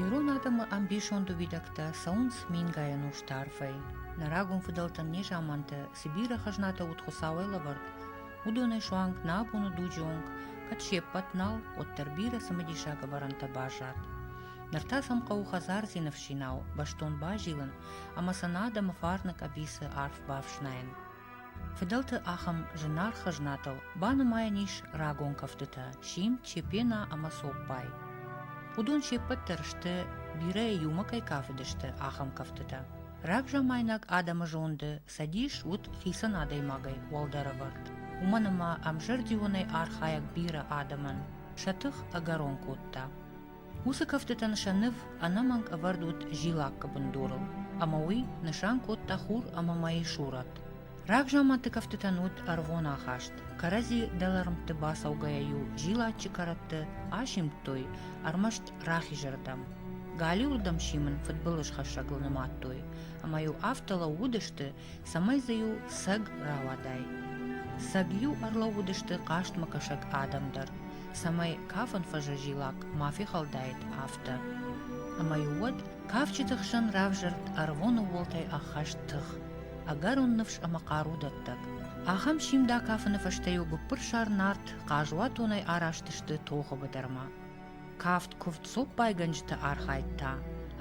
Ирон адӕмы ӕмбисонд уидӕгтӕ цӕуынц мингай ӕнусты арфӕй. Нӕ рагон фыдӕлтӕн незаманты цы бирӕ хӕзнатӕ уыд Хуыцауӕй лӕвӕрд, уыдонӕй суанг нӕ бон у дуджы онг, кӕд се ппӕт нал, уӕддӕр бирӕ цымыдисаг ӕвӕрӕнтӕ баззад. Ныр та сӕм хъӕуы хӕдзардзины фсинау бӕстон базилын ӕмӕ сын адӕмы фарны къӕбицы арф бафснайын. Фыдӕлты ахӕм зынаргъ хӕзнатыл банымайӕн ис рагон кӕфтытӕ сим, чепена ӕмӕ цоппай. Уыдон се ппӕт дӕр сты, бирӕ иумӕ кӕй кафыдысты, ахӕм кӕфтытӕ. Рагзамайнаг адӕмы зонды цӕдис уыд хицӕн адӕймагӕй уӕлдӕр ӕвӕрд. Уымӕн ӕмӕ ӕмзӕрдионӕй архайӕг бирӕ адӕмӕн сӕ тых ӕгӕрон кодта. Уыцы кӕфтытӕн сӕ ныв ӕнӕмӕнг ӕвӕрд уыд зилаккы бындурыл, ӕмӕ уый нысан кодта хур ӕмӕ мӕйы сурӕт. Рагзаманты кӕфтытӕн уыд ӕрвон ахаст. Кӕрӕдзи дӕлӕрмтты бацӕугӕйӕ-иу зилаччы кӕрӕтты асимдтой ӕрмӕст рахизырдӕм. Галиуырдӕм симын фыдбылызхӕссӕгыл нымадтой, ӕмӕ-иу афтӕ лӕууыдысты, цӕмӕй дзы-иу сӕг рауадай. Сӕг-иу ӕрлӕууыдысты хъазтмӕ кӕсӕг адӕм дӕр, цӕмӕй кафын фӕзӕзилак ма фехӕлдаид, афтӕ. Ӕмӕ-иу уӕд кафджыты хсӕн равзӕрд ӕрвон ууылтӕй ӕххӕст тых, ӕгӕрон ныфс ӕмӕ хъару дӕттӕг. Ахӕм симд акафыны фӕстӕ-иу гуыппырсар нарт хъазуатонӕй араст сты тохы быдырмӕ. Кафт куывд цоппайгӕнджыты архайд та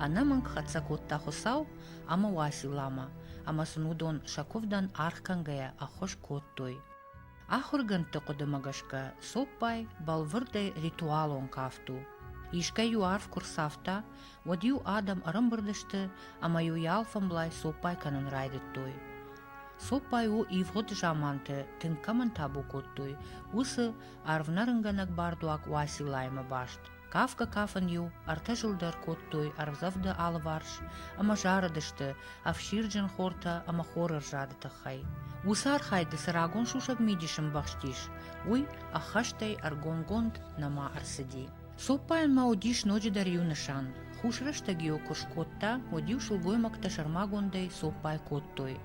ӕнӕмӕнг хӕццӕ кодта Хуыцау ӕмӕ Уасиламӕ, ӕмӕ сын уыдон сӕ куывдӕн аргъ кӕнгӕйӕ ӕххуыс кодтой. Ахуыргӕндты хъуыдымӕ гӕсгӕ, цоппай бӕлвырдӕй ритуалон кафт у. Искӕй-иу арв куы рцавта, уӕд-иу адӕм ӕрӕмбырд сты ӕмӕ-иу йӕ алфӕмблай цоппай кӕнын райдыдтой. Цоппай у ивгъуыд заманты тынг кӕмӕн табу кодтой, уыцы арвнӕрынгӕнӕг бардуаг Уасилаимӕ баст. Кафгӕ-кафын-иу ӕртӕ зыл дӕр кодтой ӕрдзӕвды алыварс ӕмӕ зарыдысты ӕфсирджын хортӕ ӕмӕ хорырзады тыххӕй. Уыцы архайды цы рагон сусӕг мидис ӕмбӕхстис, уый ӕххӕстӕй ӕргомгонд нӕма ӕрцыди. Цоппайӕн ма уыдис ноджыдӕр иу нысан. Хусрӕстӕг-иу куы скодта, уӕд-иу сылгоймӕгтӕ сӕрмагондӕй цоппай кодтой.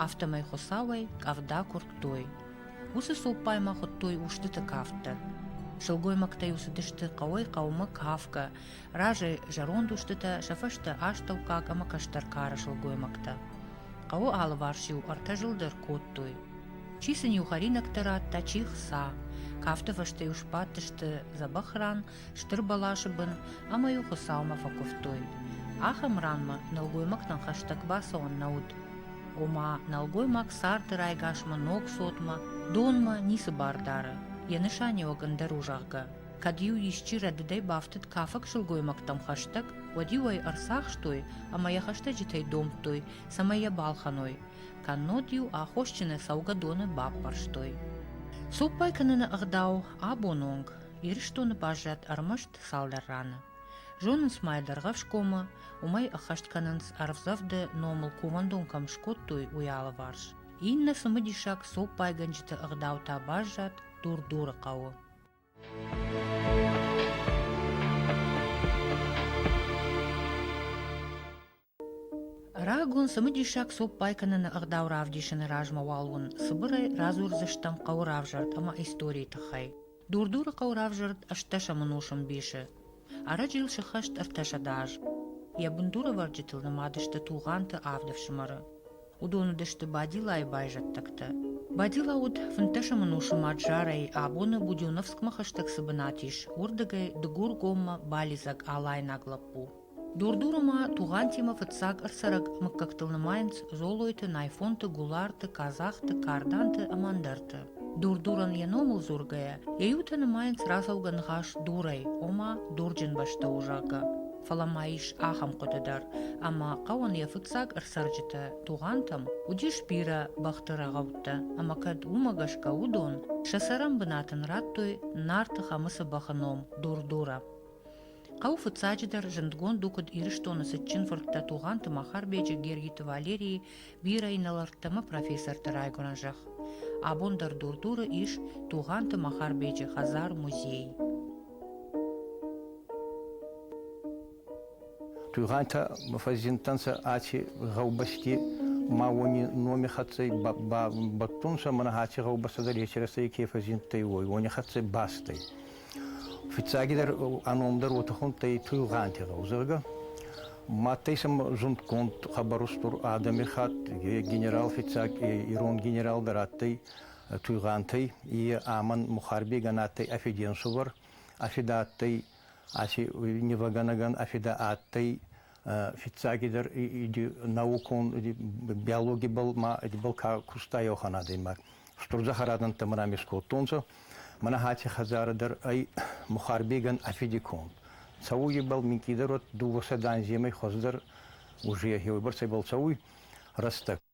Афтӕмӕй Хуыцауӕй къӕвда куырдтой, Уыцы цуппаймӕ хуыдтой устыты кафтӕ. Сылгоймӕгтӕ-иу цыдысты хъӕуӕй хъӕумӕ кафгӕ, разӕй зӕронд устытӕ, сӕ фӕстӕ астӕуккаг ӕмӕ кӕстӕр кары сылгоймӕгтӕ. Хъӕуы алыварс-иу ӕртӕ зыл дӕр кодтой. Чи сын-иу хӕринӕгтӕ радта, чи хца. Кафты фӕстӕ-иу сбадтысты дзӕбӕх ран стыр бӕласы бын ӕмӕ-иу Хуыцаумӕ фӕкуывтой. Ахӕм ранмӕ нӕлгоймӕгтӕн хӕстӕг бацӕуӕн нӕ уыд. Ома, нӕлгоймаг царды райгасмӕ, ног цотмӕ, донмӕ ницы бар дары, йӕ нысаниуӕг ӕндӕр у, зӕгъгӕ. Кӕд-иу исчи рӕдыдӕй бафтыд кафӕг сылгоймӕгтӕм хӕстӕг, уӕд-иу ӕй ӕрцахстой ӕмӕ йӕ хӕстӕджытӕй домдтой, цӕмӕй йӕ балхӕной. Кӕннод-иу аххосджынӕй цӕугӕ доны баппӕрстой. Цоппай кӕныны ӕгъдау абон онг Ирыстоны баззад ӕрмӕст цалдӕр раны. Зонынц ма йӕ Дӕргъӕвсгомы, уымӕй ӕххӕст кӕнынц ӕрвдзӕвды номыл кувӕндон кӕм скодтой, уый алыварс. Иннӕ цымыдисаг цоппайгӕнджыты ӕгъдау та баззад Дур-Дуры хъӕуы. Рагон цымыдисаг цоппай кӕныны ӕгъдау равдисыны размӕ уал уын цыбырӕй радзурдзыстӕм хъӕуы равзӕрд ӕмӕ историйы тыххӕй. Дур-Дуры хъӕуы равзӕрд ӕстдӕсӕмӕнусон ӕмбисы. Ӕрӕджы йыл сыххӕст ӕртӕсӕдӕ аз. Йӕ бындурӕвӕрджытыл нымад сты Тугъанты авд ӕфсымӕры. Уыдон уыдысты Бадилайы байзӕддӕгтӕ. Бадила уыд фынддӕсӕмӕнусы мад Жарӕйы, абоны Будёновскмӕ хӕстӕг цы бынат ис, уырдыгӕй Дыгур-гоммӕ балидзӕг алайнаг лӕппу. Дур-дуры ма Тугъантимӕ фыццаг ӕрцӕрӕг мыггӕгтыл нымайынц Золойты, Найфонты, Гуларты, Казахты, Карданты ӕмӕ ӕндӕрты. Дур-дурӕн йӕ номыл дзургӕйӕ, йӕ иутӕ нымайынц рацӕугӕ ныхас дурӕй, ома дурджын бӕстӕуы, зӕгъгӕ. Фӕлӕ ма ис ахӕм хъуыды дӕр, ӕмӕ хъӕуӕн йӕ фыццаг ӕрцӕрджытӕ Тугъантӕм уыдис бирӕ бӕхты рӕгъӕуттӕ, ӕмӕ кӕд уымӕ гӕсгӕ уыдон сӕ цӕрӕн бынат ын радтой Нарты Хӕмыцы бӕхы ном Дур-дурӕ. Хъӕуы фыццаджыдӕр зындгонд у куыд Ирыстоны цытджын фырттӕ Тугъанты Махарбеджы, Гергиты Валерийы, бирӕ инӕлӕрттӕ ӕмӕ профессорты райгуырӕн зӕхх. Абон дӕр Дур-Дуры ис Тугъанты Махарбеджы хӕдзар-музей. Тугъантӕ фӕззиндтӕнцӕ аци гъӕубӕсти ма уони номи хӕццӕ бӕттун сӕ, мӕнӕ аци гъӕубӕстӕ дӕр ецерӕстӕй ке фӕззиндтӕй, уой, уони хӕццӕ бӕстӕй. Фиццагидӕр ӕ номдар уотӕ хундтӕй Туйгъанти гъӕу, зӕгъгӕ. Мадтӕй сӕм зундгонд хабар устур адӕми хатт, е генерал фиццаг, е ирон генерал дӕр адтӕй Туйгъантӕй, е ӕмӕн Мухарбегӕн адтӕй ӕ фиденсувӕр, ӕ фидӕ адтӕй, аци невӕгӕнӕгӕн ӕ фидӕ адтӕй фиццагидӕр иди наукон иди биологибӕл ма идибӕл ка куста еухан адӕймаг. Стур захарадӕнттӕ ами скодтонцӕ. Мӕнӕ хати хӕдзарӕ дӕр ӕй Мухарбегӕн афиди конд. Цӕуйбӕл минкъийдӕр уӕд дууӕсӕ данземӕй хуӕздӕр ужие, еуебӕрцӕйбӕл цӕуй рӕстӕг.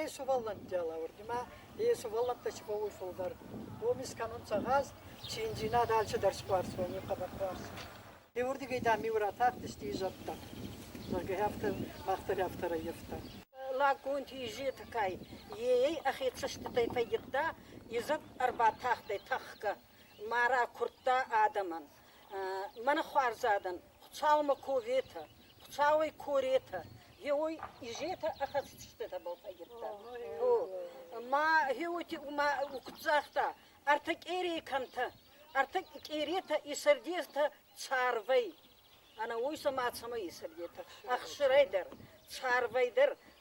Е сувӕллӕнтти лӕвӕрд имӕ, е сувӕллӕнттӕ си бауй фулдӕр. Уоми скӕнунцӕ гъаз, чинджинад алчидӕр си хуарзта, уоми хъӕбӕр хуарз. Еуердигӕй, дам, миу ратахтисти изӕртӕ, зӕгъгӕ, афтӕ мах дӕр афтӕ раййафта. Лӕггунти Изетӕгай е ӕхе цӕститӕй фӕййидта, изӕр ӕрбатахтӕй тӕхгӕ, ма ракурдта адӕмӕн. Мӕнӕ хуарзадӕн, Хуцаумӕ коветӕ, Хуцауӕй коретӕ, еуой изетӕ ӕхӕцститӕбӕл фӕййидта. Ма гьеути угцъӕхтӕ ӕртӕ къерей кӕнтӕ, ӕртӕ къеретӕ исӕрдетӕ царвӕй. Ӕнӕ уой сӕмӕ цӕмӕ исӕрдетӕ? Ӕхсирӕй дӕр, царвӕй дӕр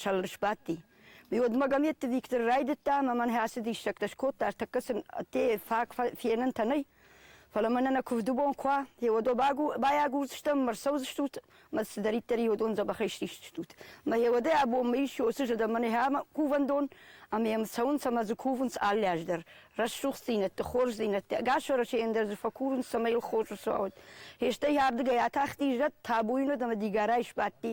сӕллӕр сбадти. Уӕдмӕ Гаметты Виктор райдыдта ӕмӕ мӕн ацы диссӕгтӕ скодта, ӕртӕккӕ сын те фаг фенӕнтӕ нӕй, фӕлӕ мӕнӕ нӕ куывдыбон куы уа, еуӕдо байагурдзыстӕм ӕмӕ рцӕудзыстут ӕмӕ цыдӕриддӕр еуӕдон дзӕбӕхӕй стисдзыстут. Мӕ еуӕдӕй абонмӕ ис уыцы зӕдӕ мӕнӕй ӕмӕ кувӕндон, ӕмӕ йӕм цӕуынц ӕмӕ дзы кувынц алы аз дӕр. Рӕсугъддзинӕдты, хорздзинӕдты, ӕгас Уӕрӕсейӕн дӕр дзы фӕкурынц, цӕмӕй йыл хорз ӕрцуа уӕд. Фестӕй ардыгӕй атахти зӕд, табуйнаг ӕмӕ дигорӕй сбадти,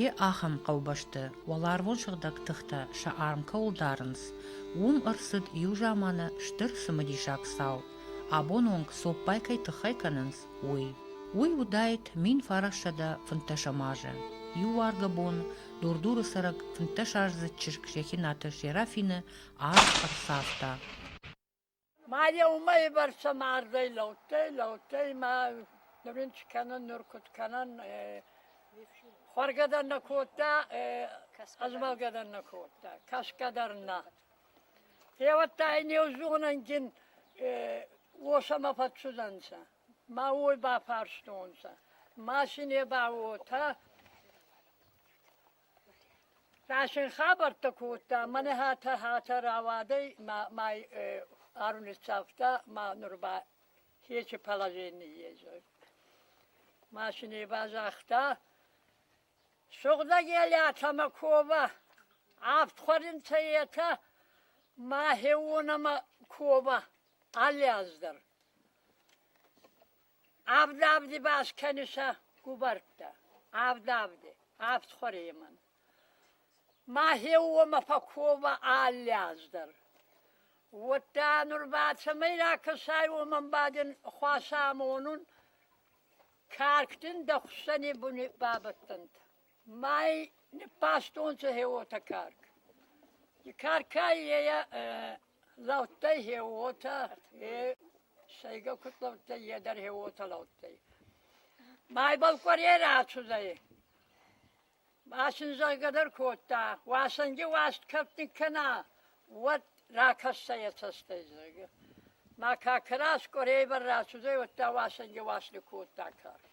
йе ахӕм хъӕубӕсты уӕларвон сыгъдӕг тыхтӕ сӕ арм кӕуыл дарынц уым ӕрцыд иу заманы стыр цымыдисаг цау абон онг цоппай кӕй тыххӕй кӕнынц уый уый уыдаид мин фарассӕдӕ фынддӕсӕм азы иу уаргъы бон дур-дуры цӕрӕг фынддӕсаздзыд чызг рехинаты серафины арв ӕрцавта Ма йӕ уымӕй бӕрцӕ мардӕй лӕудтӕй, лӕудтӕй ӕмӕ нур ин чи кӕнӕн, нур куд кӕнӕн, хуӕргӕ дӕр нӕ кодта, ӕзмӕлгӕ дӕр нӕ кодта, кӕсгӕ дӕр нӕ. Теуӕттӕ ин еу зонӕнгин уосӕмӕ фӕццудӕнцӕ, ма уой бафарстонцӕ, ма си не ба уотӕ. Рашен хабӕрттӕ кодта, мӕнӕ хатӕ-хатӕ рауадӕй мӕй ӕрнitsавта ма нур ба хечи положение зӕгъ. Машинӕ ба загъта, «Сугъдӕг елятӕмӕ ковӕ, авд хуӕринцӕ етӕ, мӕхеуонӕмӕ ковӕ, алли аз дӕр». Авд авди баскӕны сӕ губӕрттӕ, авд авди, авд хуӕремӕн. Мӕхе уомӕ фӕкковӕ алли аз дӕр. Уӕдта нур ба цӕмӕй ракӕсай, уомӕн бадин хуасӕ амонун. Карктин дӕ хуссӕни буни бабӕттӕнтӕ. Мӕй ниппастонцӕ хе уотӕ карк. И каркӕй е лӕудтӕй хе уотӕ, е Сӕйгӕ кутлӕуттӕй е дӕр хе уотӕ лӕудтӕй. Мӕйбӕл къуӕре рацудӕй. Масын зӕгъгӕ дӕр кодта. Уасӕнги уаст кӕптин кӕна, уӕд ракӕссӕй ӕ цӕстӕй, зӕгъгӕ. Ма ка карас къуӕрей бар рацудӕй, уӕдта уасӕнги уаст кодта карк.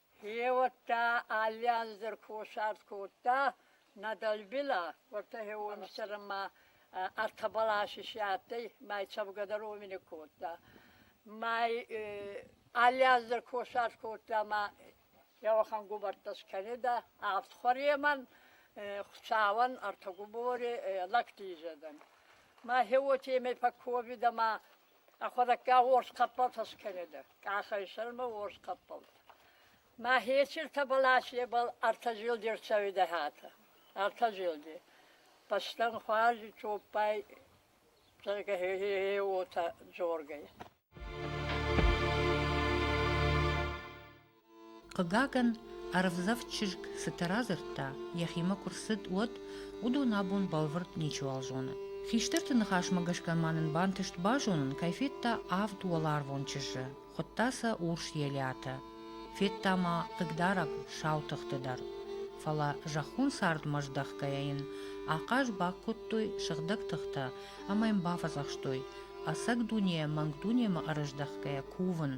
Хеуӕттӕ алли анзӕр косарт кодта нӕ дӕлбилӕ, уотӕ хеуонсӕрмӕ ӕртӕбӕласи си адтӕй, май цӕфгӕдӕр уомини кодта. Май алли анзӕр косарт кодта ма еуӕхан губӕрттӕ скӕнидӕ авд хуӕремӕн, цауӕн ӕртӕ губори лӕгти изӕдӕн. Ма хеуотемӕй пӕ ковидӕ ма Ӕхуӕдӕггаг уорс хъӕппӕл фӕскӕнедӕ, къахӕй сӕрмӕ уорс хъӕппӕл. Ма хециртӕбӕл асебӕл ӕртӕ зилди рцӕуидӕ хатӕ. Ӕртӕ зилди. Бӕстӕн хуарзи цоппай зӕгӕ хе уотӕ дзоргӕй. Хъыгагӕн, ӕрвдзӕф чызг цытӕ радзырдта, йӕхимӕ куы рцыд, уӕд, уыдон абон бӕлвырд ничиуал зоны. Хистӕрты ныхасмӕ гӕсгӕ ма нын бантыст базонын, кӕй федта авд уӕларвон чызджы, хуыдта сӕ урс елиатӕ. Федта ма хъыгдарӕг сау тыхты дӕр. Фӕлӕ зӕххон цардмӕ здӕхгӕйӕ йын ахъаз бакодтой сыгъдӕг тыхтӕ ӕмӕ йын бафӕдзӕхстой, ӕцӕг дунейӕ мӕнг дунемӕ ӕрыздӕхгӕйӕ кувын,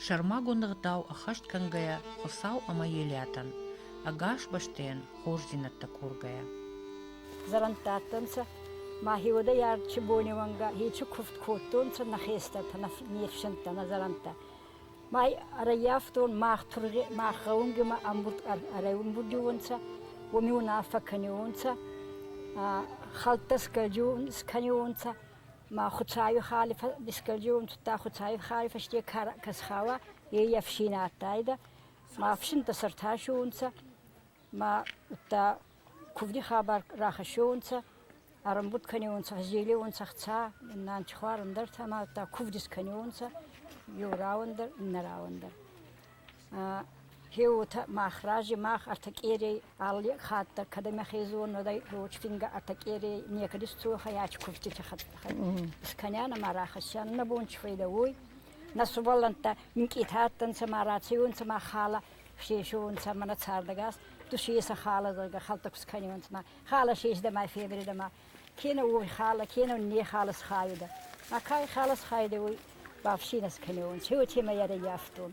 сӕрмагонд ӕгъдау ӕххӕст кӕнгӕйӕ Хуыцау ӕмӕ Елиатӕн, ӕгас бӕстӕйӕн хорздзинӕдтӕ кургӕйӕ. Зӕрӕндтадтӕнцӕ, мӕхеуодӕй Арчи бонеуӕнгӕ еци кувд кодтонцӕ нӕ хестӕртӕ, нӕ нифсӕнттӕ, нӕ зӕрӕнттӕ. Ма ӕрӕййафтон, мах тургъи, мах гъӕунгимӕ ӕрӕмбурдиуонцӕ, уоми унаффӕ кӕниуонцӕ, хӕлттӕ скӕниуонцӕ, Ма Хуцауи хали фӕскӕлдеуон тудта, Хуцауи хали фӕсте ка схауа, ей ӕфсин адтайдӕ. Ма ӕфсинтӕ сӕртасуонцӕ, ма удта кувди хабар рахӕссуонцӕ, ӕрӕмбуд кӕниуонцӕ, фӕззелеуонцӕ хца, иннан чихуар ӕндӕртӕ, ма удта кувд искӕниуонцӕ, еу рауӕн дӕр, иннӕ рауӕн дӕр. Е уотӕ мах рази мах ӕртӕ къерей алли хатт дӕр, кӕд ӕма хезон уодӕй, рочкингӕ ӕртӕ къерей некӕди сцо хайач кувтити искӕнӕн ӕма рахӕссӕн нӕ бон чи файда уой. Нӕ сувӕллӕнттӕ минкъийти адтӕнцӕ ма рацеуонцӕ ма халӕ сесеуонцӕ ӕма нӕ цардӕгас. Тусийе сӕ халӕ зӕгъгӕ хӕлтӕ кус кӕниуонцӕ ма халӕ сесдӕ ма февридӕ ма Кенӕ уой халӕ, кенӕ не халӕ схайодӕ. Ма ка халӕ схайодӕ, уой бафсийнӕс кӕнеуон, ци уотемӕй ӕрӕййафтон.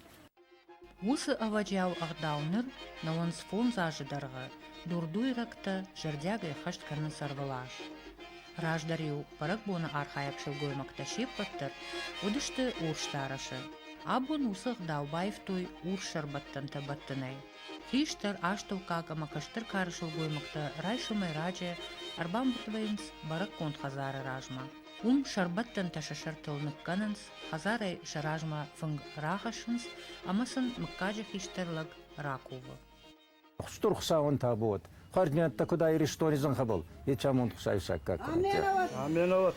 Уыцы ӕвӕджиау ӕгъдау ныр нӕуынц фондз азы дӕргъы, дурдуйрӕгтӕ зӕрдиагӕй хӕст кӕнынц ӕрвылаз. Раздӕр-иу бӕрӕгбоны архайӕг сылгоймӕгтӕ се ппӕт дӕр уыдысты урсдарӕсы. Абон уыцы ӕгъдау баивтой урс сӕрбӕттӕнтӕ бӕттынӕй. Хистӕр, астӕуккаг ӕмӕ кӕстӕр кары сылгоймӕгтӕ райсомӕй раджы ӕрбамбырдвӕййынц бӕрӕггонд хӕдзары размӕ. Уым сӕрбӕттӕнтӕ сӕ сӕртыл ныккӕнынц, хӕдзарӕй сӕ размӕ фынг рахӕссынц ӕмӕ сын мыггаджы хистӕр лӕг ракувы. Стыр Хуыцауӕн табу уӕд, хӕрдмӕттӕ куыд ӕ Иристони зӕнхӕ был, етӕ амонд Хуцауи сӕггаг кӕнӕнтӕ. Аменӕуат!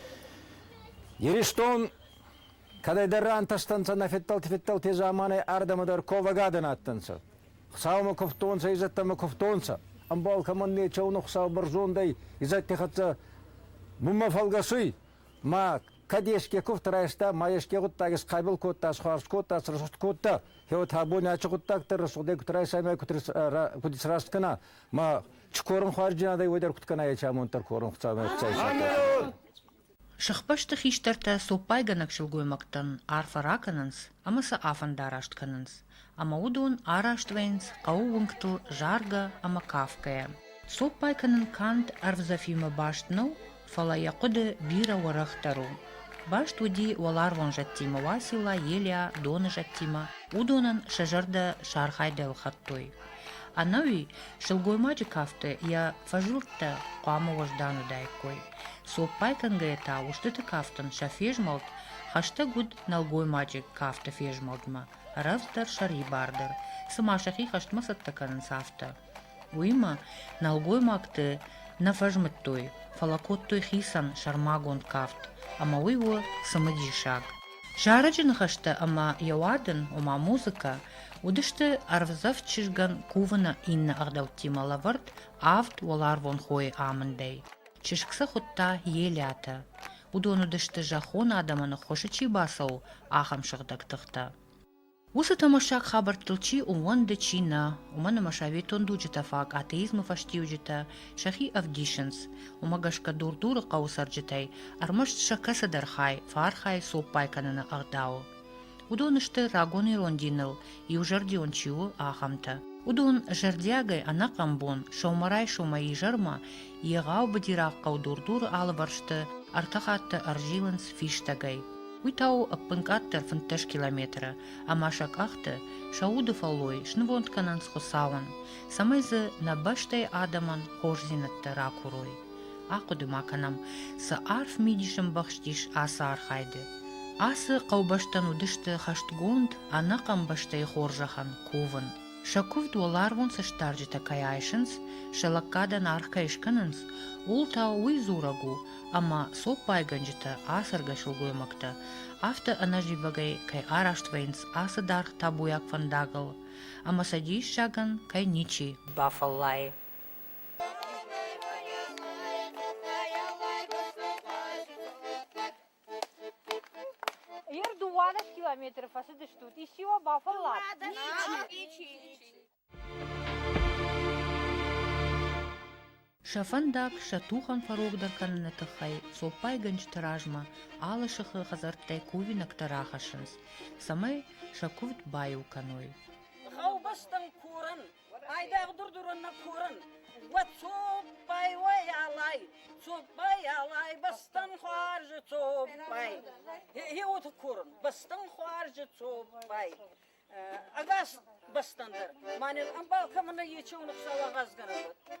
Иристон Кӕдӕйдӕр рантӕстӕнцӕ нӕ федтӕлти-федтӕлти заманай ардӕмӕ дӕр ковӕгадӕн адтӕнцӕ. Хуцаумӕ кувтонцӕ, изӕдтӕмӕ кувтонцӕ. Ӕмбал кӕмӕн нечеуна Хуцау бӕрзондӕй изӕдти хӕццӕ бунмӕ фӕлгӕсуй, ма кӕд еске кувд райста, ма еске гъуддаг исхъайбал кодта, исхуарз кодта, срӕсугъд кодта, кеуӕд абони ачи гъуддӕгтӕ рӕсугъдӕй куд райсаймӕ, куд исраст кӕна, ма чи корун хуарзджынадӕй, уой дӕр куд кӕна ечи амонд дӕр корун Хуцаумӕ. Сыхбӕсты хистӕртӕ цоппайгӕнӕг сылгоймӕгтӕн арфӕ ракӕнынц ӕмӕ сӕ афӕндараст кӕнынц, ӕмӕ уыдон араст вӕййынц хъӕуы уынгтыл заргӕ ӕмӕ кафгӕйӕ. Цоппай кӕнын канд ӕрвдзӕфимӕ баст нӕу, фӕлӕ йӕ хъуыды бирӕ уӕрӕхдӕр у. Баст уыди уӕларвон зӕдтимӕ Уацилла, Елиа, доны зӕдтимӕ, уыдонӕн сӕ зӕрдӕ сархайд ӕлхӕдтой. Ӕнӕуи сылгоймаджы кафты йӕ фӕзуӕрттӕ хъуамӕ уӕздан уыдаиккой. Цоппай кӕнгӕйӕ та устыты кафтын сӕ фезмӕлд хӕстӕг уыд нӕлгоймаджы кафты фезмӕлдмӕ, рӕвдздӕр сӕрибардӕр, цыма сӕхи хӕстмӕ цӕттӕ кӕнынц, афтӕ. Уыимӕ нӕлгоймӕгты нӕ фӕзмыдтой, фӕлӕ кодтой хицӕн сӕрмагонд кафт, ӕмӕ уый у цымыдисаг. Зарӕджы ныхӕстӕ ӕмӕ йӕ уадын, ома музыкӕ, уыдысты ӕрвдзӕф чызгӕн кувыны иннӕ ӕгъдӕуттимӕ лӕвӕрд авд уӕларвон хойы амындӕй. Чызг сӕ хуыдта Елиатӕ. Уыдон уыдысты зӕххон адӕмӕн ӕххуысы чи бацӕуы, ахӕм сыгъдӕг тыхтӕ. Уыцы томассаг хабӕрттыл чи ууӕнды, чи нӕ, уымӕн ӕмӕ советон дуджытӕ фаг атеизмы фӕстиуджытӕ сӕхи ӕвдисынц, уымӕ гӕсгӕ Дур-Дуры хъӕуы цӕрджытӕй ӕрмӕст сӕ кӕцыдӕр хай фархай цоппай кӕныны ӕгъдауы. Уыдон сты, рагон ирон диныл иузӕрдион чи у, ахӕмтӕ. Уыдон зӕрдиагӕй ӕнӕхъӕн бон сӕумӕрайсомӕй изӕрмӕ Егъау быдираг хъӕу Дур-Дуры алывӕрсты ӕртӕ хатты ӕрзилынц фистӕгӕй. Уый та у ӕппынкъаддӕр фынддӕс километры, ӕмӕ сӕ къӕхты, сӕ уды фӕллой снывонд кӕнынц Хуыцауӕн, цӕмӕй дзы нӕ бӕстӕйы адӕмӕн хорздзинӕдтӕ ракурой. Ахъуыды ма кӕнӕм, цы арф мидис ӕмбӕхст ис ацы архайды. Ацы хъӕубӕстӕн уыдысты хӕстгонд, ӕнӕхъӕн бӕстӕйы хорзӕхӕн кувын. Сӕ куывд уӕларвон цӕстдарджытӕ кӕй айсынц, сӕ лӕггадӕн аргъ кӕй скӕнынц, ууыл та уый дзурӕг у, ӕмӕ цоппайгӕнджытӕ, ацӕргӕ сылгоймӕгтӕ, афтӕ ӕнӕзивӕгӕй кӕй араст вӕййынц ацы даргъ табуйаг фӕндагыл, ӕмӕ сӕ диссагӕн кӕй ничи бафӕллайы. Йыр дыууадӕс километры фӕцыдыстут, исчи уӕ бафӕллад? Сӕ фӕндаг сӕ тухӕн фӕрогдӕр кӕныны тыххӕй цоппайгӕнджыты размӕ алы сыхы хӕдзӕрттӕй кувинӕгтӕ рахӕссынц, цӕмӕй сӕ куывд баиу кӕной. Гъӕубӕстӕн курын, Айдагъ дурдурунна корун, уӕ цоппай, уой алай, цоппай алай, бастан хуаржы цоппай. Хеуты корун, бастан хуаржы цоппай. Агас бастандар, манен амбал камына ечеуны хсала газганабат.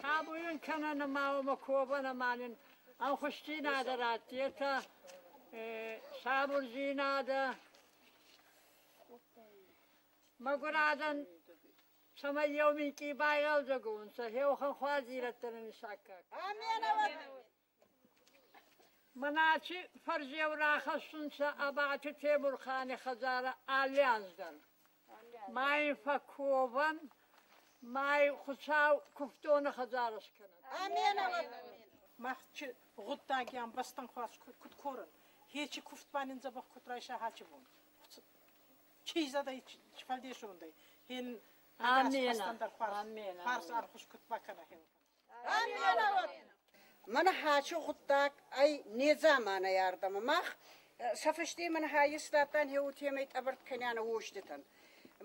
Сабуйын кӕнӕ ма омӕ ковӕн ӕма нин ӕнхусдзийнадӕ радти, етӕ сабурдзийнадӕ мӕгур адӕн цӕмӕй еу минкъий байгъӕлдзӕг унцӕ, еухӕн хуӕздзийнӕдтӕ нин исаккаг. Аминӕуӕд! Маначи фӕрзеу рахӕссунцӕ Абачи Темурхани хӕдзарӕ алли аз дӕр. Ма ин фӕкковӕн, ма ин Хуцау кувддони хӕдзар скӕнӕн. Мах гъуддагиан бӕстӕн хуарз куд корӕн, хечи кувд ба нин дзӕбӕх куд райса хачи бон. Чи зӕдӕй, чи фӕлдесондӕй, хен ӕнас бӕстӕн дӕр хуарз ӕрхус куд бакӕна хеуӕн. Мӕнӕ хачы гъуддаг ӕй недзаманай ардӕмӕ. Мах сӕ фӕсте мӕн хаййестадтан еутемӕй тъӕбӕрт кӕнӕнӕ уоститӕн.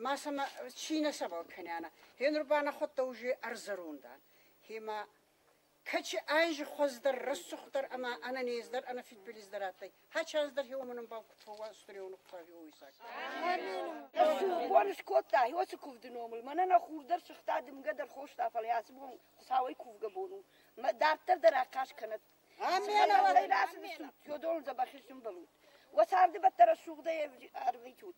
Ма сӕмӕ ци нӕ сӕбӕл кӕнӕнӕ. Гьенур ба нӕхуӕдтӕ уже ӕрзӕрун дан. Гьема, кӕчи айзи хуӕздӕр, рӕсугъддӕр ӕма ӕнӕнездӕр, ӕнӕфидбилиздӕр адтӕй, Хӕч аз дӕр хеомӕ нӕ бакуд фӕуастурион хъави ойсаг. Борис кодта, хеоцы кувды номыл, мӕнӕ нӕ хур дӕр сыгъта дымгӕ дӕр хоста, фӕлӕ ацы бон Хуцауӕй кувгӕ бон у. Мӕ дарддӕр дӕр ахъаз кӕнӕт. Фӕлӕ расын стут, Федорон дзӕбӕхи сымбӕлут. Уӕ царды бӕттӕ рӕсугъдӕй ӕрвитут.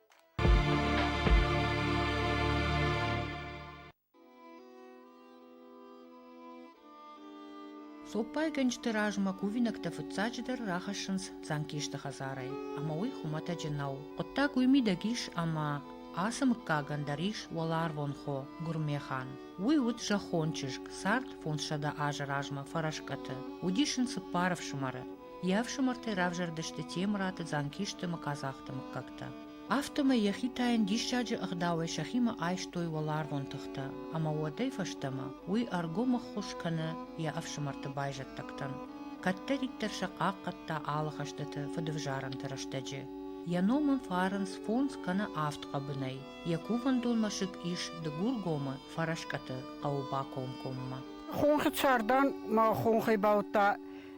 Цоппайгӕнджыты размӕ кувинӕгтӕ фыццаджыдӕр рахӕссынц Дзанкесты хӕдзарӕй, ӕмӕ уый хуымӕтӕджы нӕу. Хъуыддаг уый мидӕг ис, ӕмӕ ацы мыггагӕн дӕр ис уӕларвон хо Гуырмехан. Уый уыд зӕххон чызг, цард фондзсӕдӕ азы размӕ фӕрӕскъӕты. Уыдис ын цыппар ӕфсымӕры. Йӕ ӕфсымӕртӕй равзӕрдысты Темыраты, Дзанкисты ӕмӕ Къадзахты мыггӕгтӕ. Афтӕмӕй йӕхи та йын диссаджы ӕгъдауӕй сӕхимӕ айстой уӕларвон тыхтӕ, ӕмӕ уӕдӕй фӕстӕмӕ уый ӕргом ӕххуыс кӕны йӕ ӕфсымӕрты байзӕддӕгтӕн. Кӕддӕриддӕр сӕ хъахъхъӕдта алы хӕстыты фыдывзарӕнты рӕстӕджы. Йӕ ном ын фӕрынц фондз кӕнӕ авд хъӕбынӕй. Йӕ кувӕндон мӕсыг ис Дыгургомы, Фӕрӕскъӕты хъӕуы бакомкоммӕ. Хонхи цардан ма хонхӕй бауыдта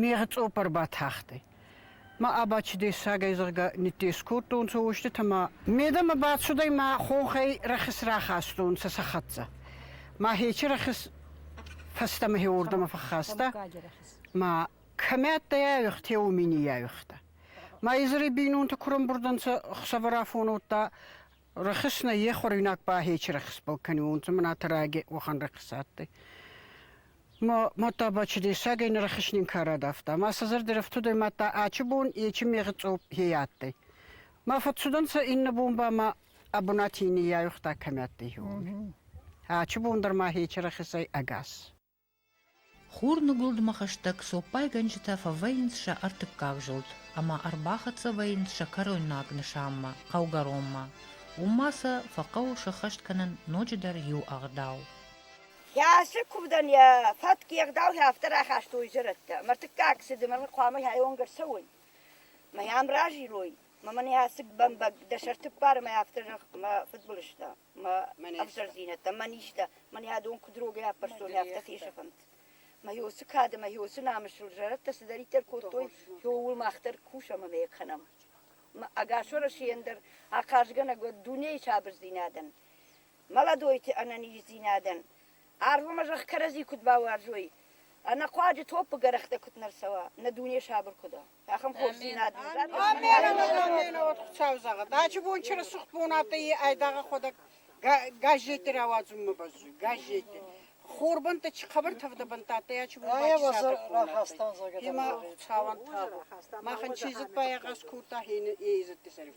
Мегъи цъоппӕр батахтӕй. Ма Абачи дессагӕй, зӕгъгӕ, ниддескодтонцӕ уститӕ ма медӕмӕ бацудӕй ма хохӕй рӕхис рахастонцӕ сӕ хӕццӕ. Ма хечи рӕхис фӕстӕмӕ хеуордӕмӕ фӕххаста, ма кӕмӕ адтӕй айвӕгътӕ, уоми ниййайвӕгъта. Ма изӕри бийнонтӕ курӕнбурдӕнцӕ хсӕвӕрафон уодта рӕхис нӕ е хуӕруйнаг ба хечи рӕхисбӕл кӕниуонцӕ, мӕнӕ тӕрӕги уӕхӕн рӕхис адтӕй. Мадта ба чи дессагӕй нӕрахеснин ка радавта. Ма сӕ зӕрдӕ рӕфтудӕй мадта ачи бон ечи мегъи цъоп хе адтӕй. Ма фӕццудӕнцӕ иннӕ бон ба ма ӕ бунати ниййайугъта кӕми адтӕй, уоми. Ачи бон дӕр ма хечи рахесӕй ӕгас. Хурныгуылдмӕ хӕстӕг цоппайгӕнджытӕ фӕвӕййынц сӕ ӕртыккаг зылд ӕмӕ ӕрбахӕццӕ вӕййынц сӕ кӕройнаг нысанмӕ, хъӕугӕронмӕ. Уым ма сӕ фӕхъӕуы сӕххӕст кӕнын ноджыдӕр иу ӕгъдау. Йӕ куывдӕн йӕ фӕтк, йе гъдауӕй афтӕ рахастой зӕрӕдтӕ. Мыртыккаг цыды мӕ хъуамӕ ӕйонг ӕрцӕуой, мӕ йӕм разилой, мӕ мӕн йӕ бӕмбӕг дӕ сӕрты ппары мӕ афтӕ зӕгъ, мӕ фыдбылызтӕ, мӕ ӕвзӕрдзинӕдтӕ, мӕ низтӕ, мӕн йӕ дон куыд рогӕй аппӕрстой, афтӕ фесӕфӕнт. Мӕ йосы кады, мӕ йосы намысыл зӕрӕдтӕ цыдӕриддӕр кодтой, ууыл мах дӕр кусӕм ӕмӕ йӕ кӕнӕм. Ӕгас Уӕрӕсейӕн дӕр ахъазгӕнӕг уӕд дунейы сабырдзинадӕн. молодойти ӕнӕниздзийнадӕн арвмӕ зӕхх кӕрӕдзи куд бауарзой, ӕнӕхъуаджы топпы гӕрӕхтӕ куыд нӕ рцӕуа, нӕ дуне сабыр куыд уа. Ахӕм хорздзинад нын Аминӕ, Хуцау зӕгъӕд, ачи бон чи рцух бон адтӕй, е айдагъ ӕхуӕдӕг газетти рауадзунмӕ бӕззуй. Газетти хорбӕнтти чи хъӕбӕр тӕвдӕ бӕнтт адтӕй, ачи бон бахӕстон зӕгӕд. Имӕ Хуцауӕн тӕбӕ. Махӕн чи дзиппайагъаз кодта, е идзӕтти сӕриф.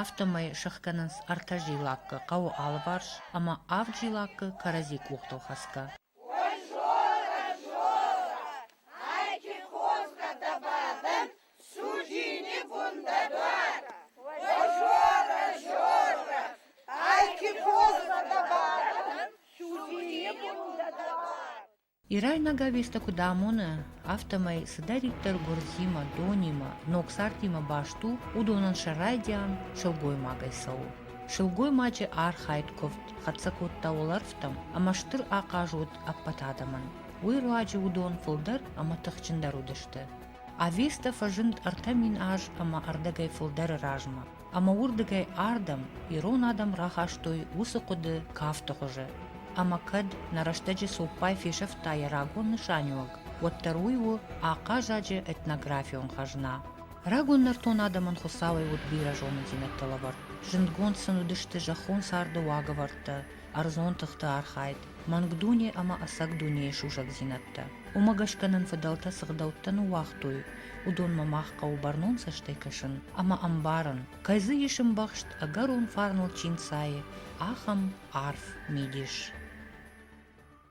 афтӕмӕй сыхгӕнынц ӕртӕ зилаккы хъӕуы алыварс ӕмӕ авд зилаккы кӕрӕдзи къухтыл хӕцгӕ. Ирайнаг ӕвиртӕ куыд амоны, афтӕмӕй цыдӕриддӕр гуырдзимӕ, донимӕ, ног цардимӕ баст у, уыдонӕн сӕ райдиан сылгоймагӕй цӕуы. Сылгоймаджы архайд куывд хӕццӕ кодта уӕлӕрвтӕм ӕмӕ стыр ахъаз уыд ӕппӕт адӕмӕн. Уый руаджы уыдон фылдӕр ӕмӕ тыхджындӕр уыдысты. Авеста фӕзынд ӕртӕ мин аз ӕмӕ ӕрдӕгӕй фылдӕры размӕ. ӕмӕ уырдыгӕй ардӕм ирон адӕм рахастой уыцы хъуыды кафты хуызы. Ӕмӕ кӕд нӕ рӕстӕджы цоппай фесӕфта йӕ рагон нысаниуӕг, уӕддӕр уый у ахъазаджы этнографион хӕзна. Рагон нӕртон адӕмӕн Хуыцауӕй уыд бирӕ зонындзинӕдтӕ лӕвӕрд. Зындгонд сын уыдысты зӕххон царды уагӕвӕрдтӕ, ӕрдзон тыхты архайд, мӕнг дуне ӕмӕ ӕцӕг дунейы сусӕгдзинӕдтӕ. Уымӕ гӕсгӕ нын фыдӕлтӕ цы гъдӕуттӕ ныууагътой, уыдонмӕ мах хъӕуы бӕрнон цӕстӕй кӕсын ӕмӕ ӕмбарын, кӕй дзы ис ӕмбӕхст ӕгӕрон фарныл чи нцайы, ахӕм арф мидис.